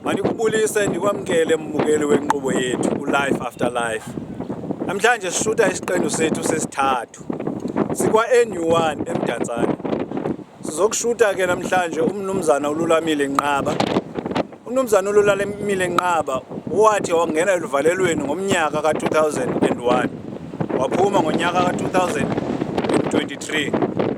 Mandikubulise ndikwamkele mbukeli wenkqubo yethu uLife After Life. Namhlanje sishuta isiqendu sethu sesithathu sikwa-NU1 eMdantsane. Sizokushuta ke namhlanje umnumzana uLulamile Nqaba. Umnumzana uLulamile Nqaba wathi wangena eluvalelweni ngomnyaka ka-2001 waphuma ngonyaka ka-2023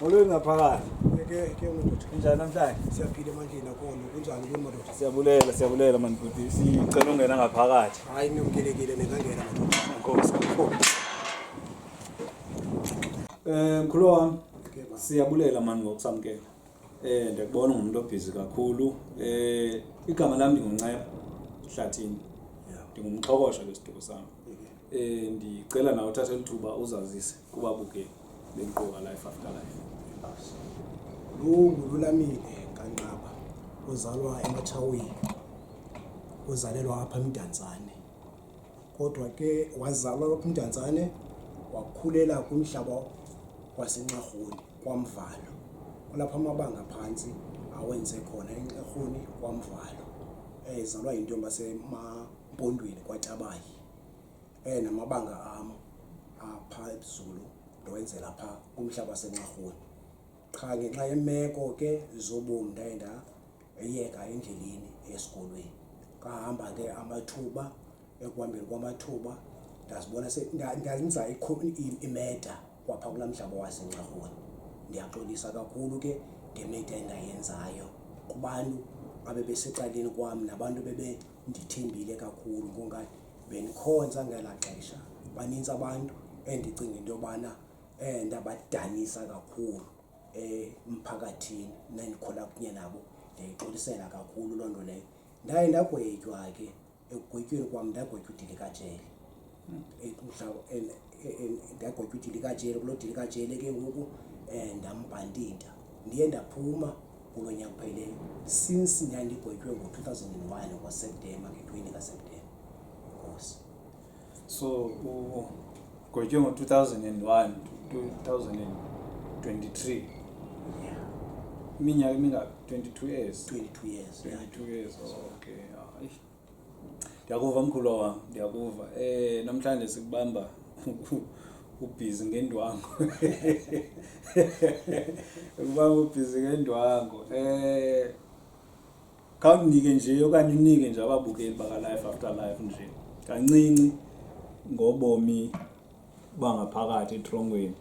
Molweni ngaphakathi. Ke ke madoda. Kunjani namhlanje? Siyaphila manje nakhona. Kunjani ke madoda? Siyabulela, siyabulela mani bhuti. Sicela ungena ngaphakathi. Hayi niyomkelekile ningangena madoda. Nkosi. Eh mkhulu wami. Siyabulela mani ngokusamkela. Eh ndiyakubona ungumntu obhizi kakhulu. Eh igama lami ndingunceba Hlathini. Ndingumxhokosha kwisiduko sami. Eh ndicela nawe uthathe lithuba uzazise. kubabuke benkqubo life after life lunguLulamile kaNqaba uzalwa eMatshaweni uzalelwa apha eMdantsane kodwa ke wazalwa lapha eMdantsane wakhulela kumhlaba waseNxarhuni kwaMvalo kulapho amabanga phantsi awenze khona eNxarhuni kwaMvalo ezalwa yintombi yaseMampondweni kwaTabayi Eh namabanga am apha ebuZulu ndowenzela pha kumhlaba waseNxarhuni. Qha ngenxa yemeko ke zobomi ndaye ndayeka endleleni esikolweni. Kahamba ke amathuba, ekuhambeni kwamathuba ndazibona ndenza imeda kwapha kulaa mhlaba waseNxarhuni. Ndiyaxolisa kakhulu ke ngemida endayenzayo kubantu abebesecaleni kwam nabantu bebe. ndithembile kakhulu ngoba bendikhonza ngela xesha baninzi abantu endicinga into yobana um ndabadanisa kakhulu emphakathini nandikhula kunye nabo ndiyayixolisela kakhulu loo nto leyo ndaye ndagwetywa ke ekugwetyweni kwam ndagwetywa udilikajele ndagwetya udilikajele kuloo dilikajele ke ngoku um ndambhandida ndiye ndaphuma kulo nyaka upheleyo since ndandigwetywe ngo-two thousand and one ngoseptemba nge-twenty kaseptemba nkosi so ugwetywe ngo-two thousand and one two thousand and twenty-three iminyaka emingaphi twenty-two years twenty-two years twenty-two years oh, okay ndiyakuva mkhulu wam ndiyakuva um namhlanje sikubamba ubhizi ngendwango ukubamba ubhizi ngendwango um khawundinike nje okanye unike nje ababukeli bakalife after life nje kancinci ngobomi bangaphakathi etrongweni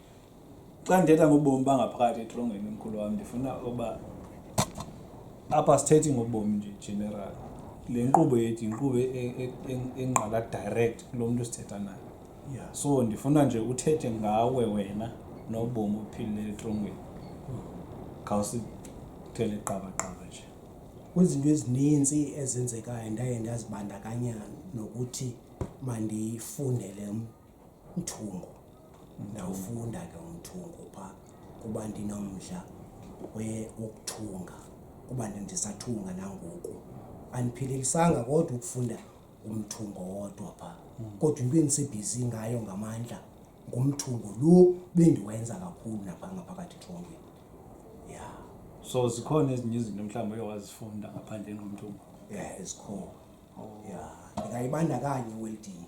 xa ndithetha ngobomi bangaphakathi etolongweni mkhulu wam ndifuna uba apha sithethi ngobomi nje general le nkqubo yethu yinkqubo e, e, e, engqala direct kulo mntu sithetha naye so ndifuna nje uthethe ngawe wena nobomi ophilile etrongweni khawusithele qabaqaba nje kwizinto ezininzi ezenzekayo ndaye ndazibandakanya nokuthi mandifundele Mthungo. Ndawufunda ke umthungo phaa kuba ndinomdla we- wokuthunga kuba ndi- ndisathunga nangoku. Andiphelelisanga kodwa ukufunda umthungo wodwa phaa kodwa into endisebhizi ngayo ngamandla ngumthungo lo bendiwenza kakhulu naphaa ngaphakathi ethongweni. Ya, So zikhona ezinye izinto mhlawumbi oye wazifunda ngaphandleni komthungo. ya ezikhona. Ya, ndingayibandakanya iweldini.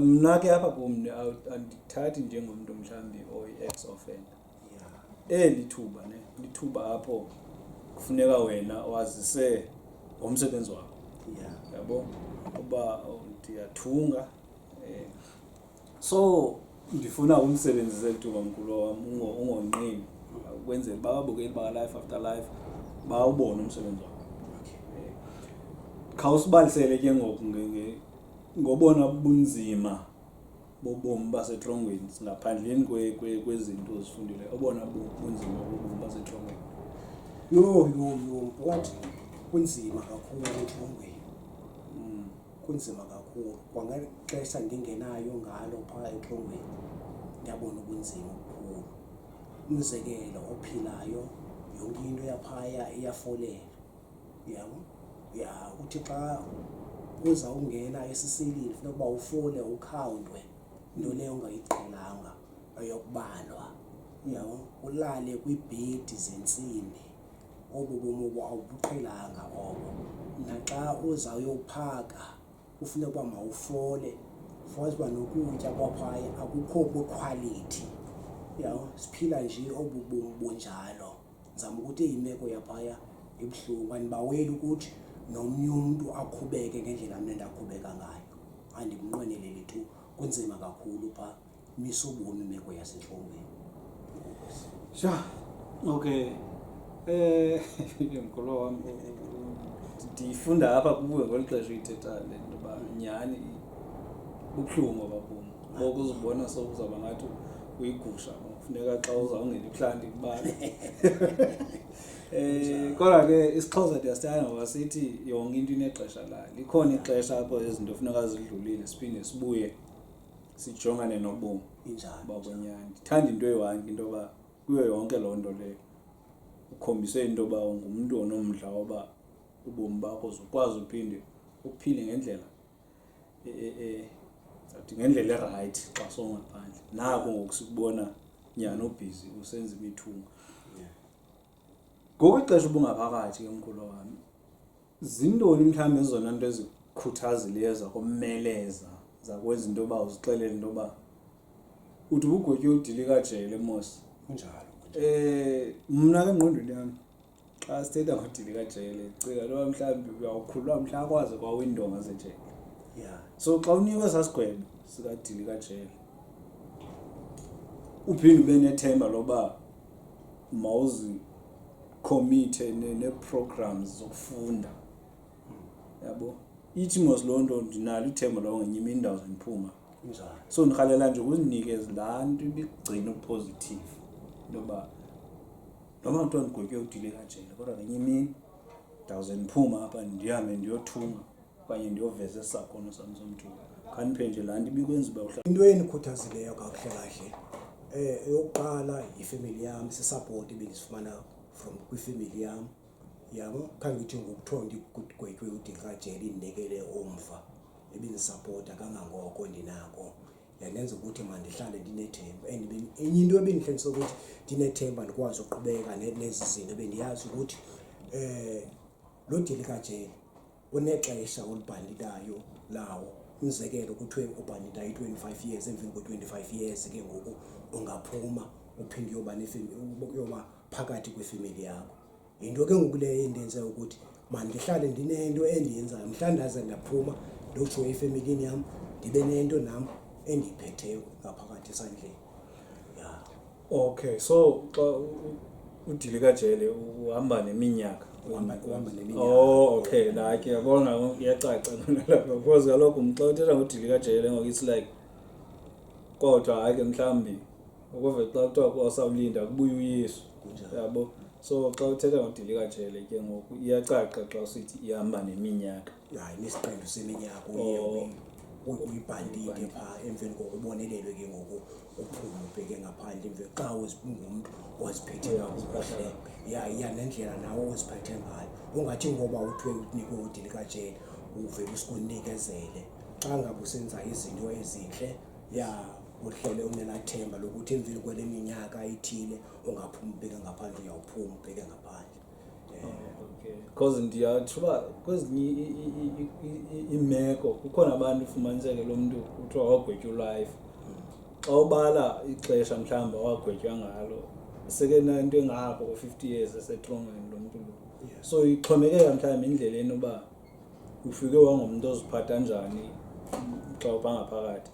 mna ke apha kum andithathi njengomntu mhlawumbi oyi-ex offender eli thuba ne lithuba apho kufuneka wena wazise ngomsebenzi wakho yabo uba ndiyathunga um so ndifuna umsebenzise tuba mkhulu wam ungonqini ukwenzela uba ababukeli bakalife after life bawubone umsebenzi wakho khawusibalisele ke ngoku ngobona bunzima bobomi basetrongweni ngaphandleni kwezinto ozifundile obona bunzima bobomi basetrongweni yho yho yho phakathi kunzima kakhulu etrongweni kunzima kakhulu kwangeli xesha ndingenayo ngalo phaa exhongweni ndiyabona ubunzima obukhulu umzekelo ophilayo yonke into yaphaya iyafolela yabo ya uthi xa uza ungena esisilini funeka uba ufole ukhawuntwe into leyo ungayiqhelanga ayokubalwa yabo ulale kwiibhedi zentsimbi obu bomi obu awubuqhelanga obo. Naxa uzawuyophaka kufuneka uba mawufole, ufumanise uba nokutya kwaphaya akukho kwikhwalithi. Uyabo? Siphila nje obu bomi bunjalo. Ndizama ukuthi imeko yaphaya ibuhlungu, andibaweli ukuthi nomnye umntu akhubeke ngendlela mna ndakhubeka ngayo, andimnqweneleli tu. Kunzima kakhulu phaa. misobona imeko yasetlongweni sha okay eh mkhulu wam ndiyifunda apha kuwe ngolu xesha uyithetha le nto uba nyhani bubuhlungu abakum ngoku uzibona sokuzawuba ngathi uyigusha kufuneka xa uzawungena ibuhlanti kubani um kodwa ke isixhosa ndiyasithanda ngoba sithi yonke into inexesha layo likhona ixesha apho izinto funeka zidlulile siphinde sibuye sijongane nobomi injalo bakwenyana ndithanda into eyi-one into yoba kuyo yonke loo nto leyo ukhombise into yoba ungumntu onomdla woba ubomi bakho zukwazi uphinde uphile ngendlela e, e, e, zathi ngendlela erayithi xa songaphandle nako ngoku sikubona nyhani obhizi usenza imithunga ngoku ixesha ubungaphakathi ke mkhulu wami zintoni mhlawumbi ezona nto ezikhuthazileyo zakomeleza zakwenza into yoba uzixelele into yoba uthi ubugotyi udilika jele mos kunjalo um mna ke ngqondweni yami xa sithetha ngodilika jele cila loba mhlawumbi uyawukhulula mhla akwazi kwawindonga zejele ya so xa unikwe sasigwebo sikadilika jele uphinde ube nethemba loba mawuzi committee ne- nee-programs zokufunda yabo ithi mos loo nto ndinalo ithemba loba ngenye imini ndawuze ndiphuma Njani? so ndirhalela nje ukuzinikeza laa nto ibigcina upositive into yoba noba kuthiwa ndigwetywe udile kajele kodwa ngenye imini ndawuze ndiphuma apha ndihambe ndiyothunga okanye ndiyoveza esakhono sam somthuba khaniphendle laa nto ibikwenza uba uhla into enikhuthazileyo kakuhle kahle um eyokuqala yifemeli yam sisapoti bendisifumana from kwifemeli yam yabo khange ithi ngokuthiwa ndigwetywe udingrajele indibekele umva ebindisapota kangangoko ndinako yandenza ukuthi mandihlale ndinethemba and enye into ebindihlenisa ukuthi ndinethemba ndikwazi ukuqhubeka nezi zinto bendiyazi ukuthi um lo dilikajele unexesha olibhanditayo lawo umzekelo kuthiwe ubhandita i-25 years emveni kwe-25 years ke ngoku ungaphuma uphinde uyoba uyoba phakathi kwefemeli yakho yinto ke ngoku leyo endenze ukuthi mandihlale ndinento endiyenzayo mhla ndaze ndaphuma ndotsho efemelini yam ndibe nento nam endiyiphetheyo ngaphakathi esandleni okay so xa udilika jele uhamba neminyaka uhamba neminyaka oh okay like yabona iyacaca nalapha because kaloku mxa uthetha ngodilika jele ngoku it's like kodwa hayi ke mhlawumbi ukuve xa kuthiwa kwasawulinda kubuye uyesu yabo so xa uthetha ngodilika jele ke ngoku iyacaca xa usithi ihamba neminyaka hayi nesiqendu seminyaka oh. uyibhandile phaa emveni koko ubonelelwe ke ngoku uphume ubheke ngaphandle emveni xa ungumntu oziphethe kakuhle ya iya nendlela nawe oziphethe ngayo ungathi ngoba uthiwe unikwe udili kajele uvele usikunikezele xa ngabe usenza izinto ezintle ya uhlele unenathemba lokuthi emveni kwale minyaka ithile ungaphuma ubheke ngaphandle uyawuphuma ubheke ngaphandle because ndiyatsho uba kwezinye iimeko kukhona abantu ufumaniseke lo mntu kuthiwa wagwetywa ulife xa ubala ixesha mhlawumbi awagwetywa ngalo sekenanto engako ko-fifty years esetrongweni lo mntu lo so ixhomekeka mhlawumbi indleleni uba ufike wangumntu oziphatha njani xa ubangaphakathi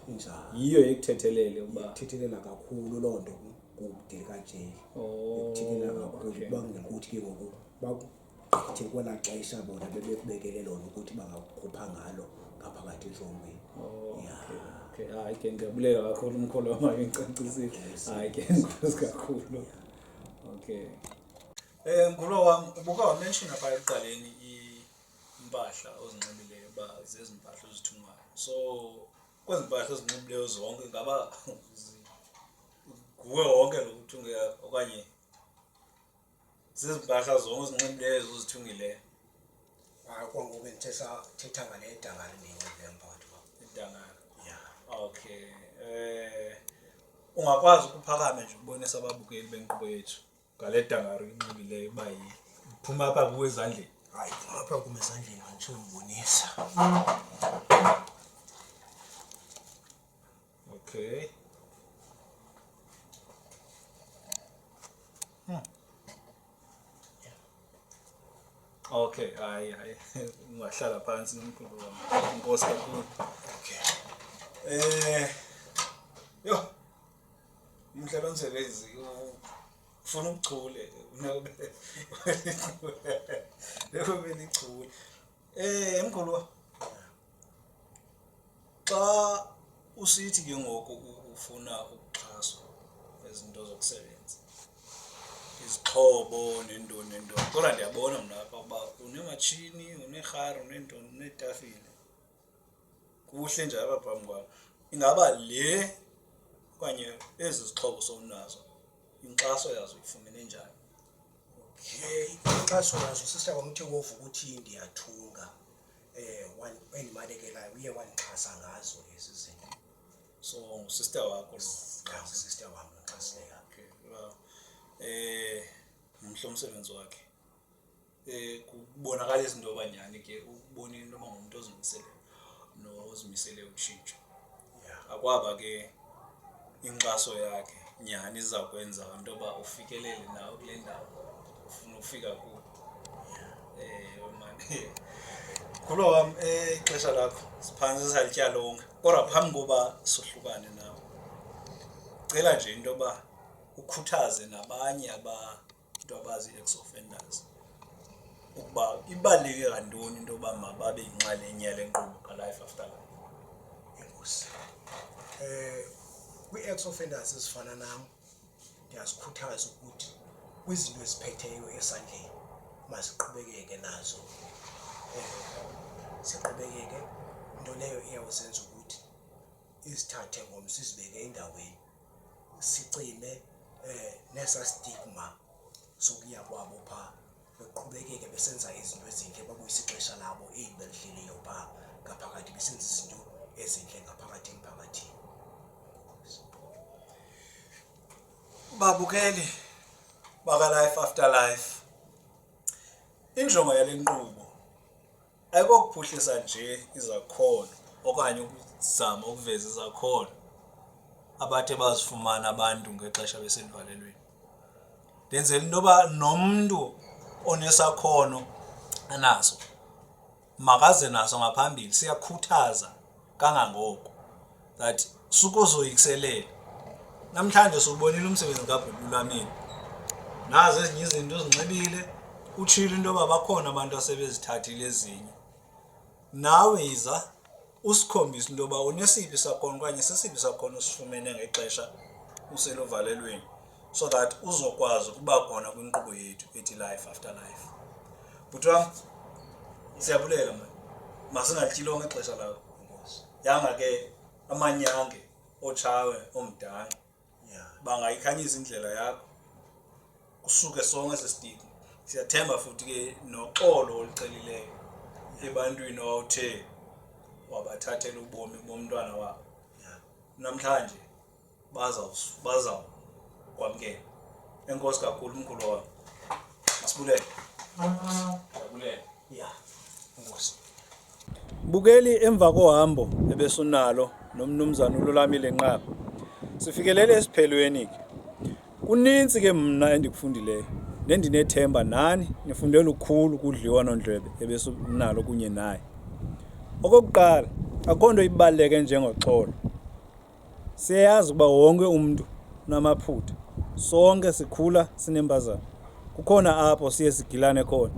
yiyo ekuthethelele uba ithethelela kakhulu loo nto kude kajele oh. ekuthini angakuyo ukuba ngekuthi ke ngoku bagqithe kwelaa xesha bona bebekubekele lona ukuthi bangakukhupha ngalo ngaphakathi etrongweni oh, ya okay hayi ke ndiyabulela kakhulu umkholo wam akengicacisile hayi ke nkosi kakhulu okay um mkholo wam ubuka wamenshina phaa ekuqaleni impahla ozinxibileyo uba zezi mpahla ozithungayo so kwezi mpahla ozinxibileyo zonke ngaba nguwe wonke lo uthungela okanye zizimpahla zonke ozinxibileyo zozithungileyo hayi kwangoku ndithetha ngale dangane ndiyinxibileyo mpakathi kwam idangane ya okay um ungakwazi ukuphakame nje ukubonisa ababukeli benkqubo yethu ngale dangaro inxibileyo uba iphuma apha kuwe ezandleni hayi phuma apha kum ezandleni anditsho ndibonisa okay hmm. okay hayi hayi ungahlala phantsi nomkhulu wam inkosi kakhulu okay um eh, yho umhlaba msebenzi ufuna ubuchule bekube lichule um mgolwa xa usithi ke ngoku ufuna ukuxhaswa ezinto zokusebenza izixhobo nentoni nentoni kodwa ndiyabona mna apha uba unematshini uneerhari uneentoni uneetafile kuhle nje apha phambi kwam ingaba le okanye ezi zixhobo sowunazo inkxaso yazo uyifumene njani okay inkxaso yazo sisita kwamthe wovu ukuthi ndiyathunga um endibalekelayo uye wandixhasa ngazo ezi zinto so ngusister wakho ngusister wam noxhasileyo um eh, mhle umsebenzi wakhe Eh, kubonakala izinto abanyani ke ukubona into yoba ngumntu ozimisele nozimisele ukutshintsha akwaba ke inkxaso yakhe nyhani iza kwenza into yoba ufikelele nawe kule ndawo ufuna ukufika ku um eh, mane ngulo wam eh, ixesha lakho siphantsi salityalonga kodwa phambi koba sohlukane nawe cela nje into yoba ukhuthaze nabanye aba into abazi ex-offenders ukuba ibaluleke kantoni into yoba mababe yinxalenye yale nkqubo kalife after life enkosi um kwi-ex offenders ezifana nam ndiyazikhuthaza ukuthi kwizinto eziphetheyo esandleni masiqhubekeke nazo um siqhubekeke into leyo iyawuzenza ukuthi izithathe ngomso izibeke endaweni sicime eh nesa stigma sokuya kwabo pha beqhubekeke besenza izinto ezintle babuyisa ixesha labo eli belidleliyo pha ngaphakathi besenza izinto ezintle ngaphakathi emphakathini babukeli baka life after life injongo yale nkqubo ayikokuphuhlisa nje izakhono okanye ukuzama ukuveza izakhono abathe bazifumana abantu ngexesha besendivalelweni ndenzela into yoba nomntu onesakhono anaso makaze naso ngaphambili siyakhuthaza kangangoko that sukuzoyikiselela namhlanje siwubonile umsebenzi kabhubulwaneni nazo ezinye izinto ezinxibile utshilo into yoba bakhona abantu asebezithathile ezinye nawe yiza usikhombise into yoba unesiphi sakhono okanye sesiphi sakhono osifumene ngexesha useluvalelweni so that uzokwazi ukuba khona kwinkqubo yethu ethi life after life bhuti wam siyabulela ma masingatyilonga ixesha lakho yanga ke amanyange otshawe omdala bangayikhanyisa indlela yakho kusuke sonke sesitiki siyathemba futhi ke noxolo olucelileyo ebantwini owawuthe wabathathela ubomi bomntwana wabo namhlanje bazawukwamkela enkosi kakhulu umkhulu wam masibulele masibulele ya enkosi bukeli emva kohambo ebesunalo nomnumzana ululamile nqaba sifikelele esiphelweni ke kunintsi ke mna endikufundileyo nendinethemba nani nifunde lukhulu kudliwa nondlwebe ebesunalo kunye naye okokuqala akho nto ibaluleke njengoxolo Siyayazi ukuba wonke umntu unamaphutha. Sonke sikhula sinempazamo. Kukhona apho siye sigilane khona.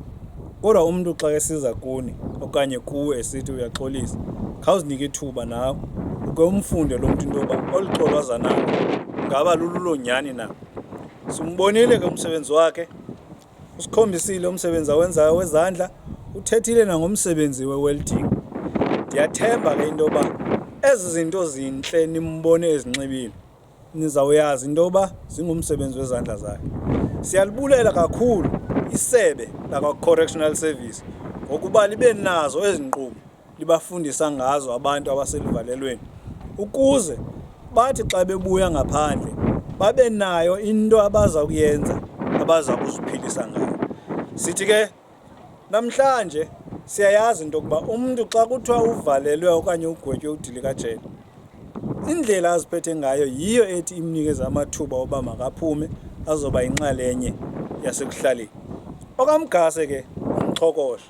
Kodwa umntu xa esiza kuni okanye kuwe esithi uyaxolisa, khawuzinike ithuba nawe uke umfunde lo mntu into yoba olu xolo aza nalo ngaba lululo nyhani na. Simbonile ke umsebenzi wakhe usikhombisile umsebenzi awenzayo wezandla uthethile nangomsebenzi we-welding ndiyathemba ke into yoba ezi zinto zintle nimbone ezinxibile nizawuyazi into yoba zingumsebenzi wezandla zakhe siyalibulela kakhulu isebe lakwa-correctional service ngokuba libe nazo ezi nkqubo libafundisa ngazo abantu abaseluvalelweni ukuze bathi xa bebuya ngaphandle babe nayo into abaza kuyenza abaza kuziphilisa ngayo sithi ke namhlanje siyayazi into yokuba umntu xa kuthiwa uvalelwe okanye ugwetywe udilikajele indlela aziphethe ngayo yiyo ethi imnikeze amathuba oba makaphume azoba yinxalenye yasekuhlaleni okamgase ke umchokosha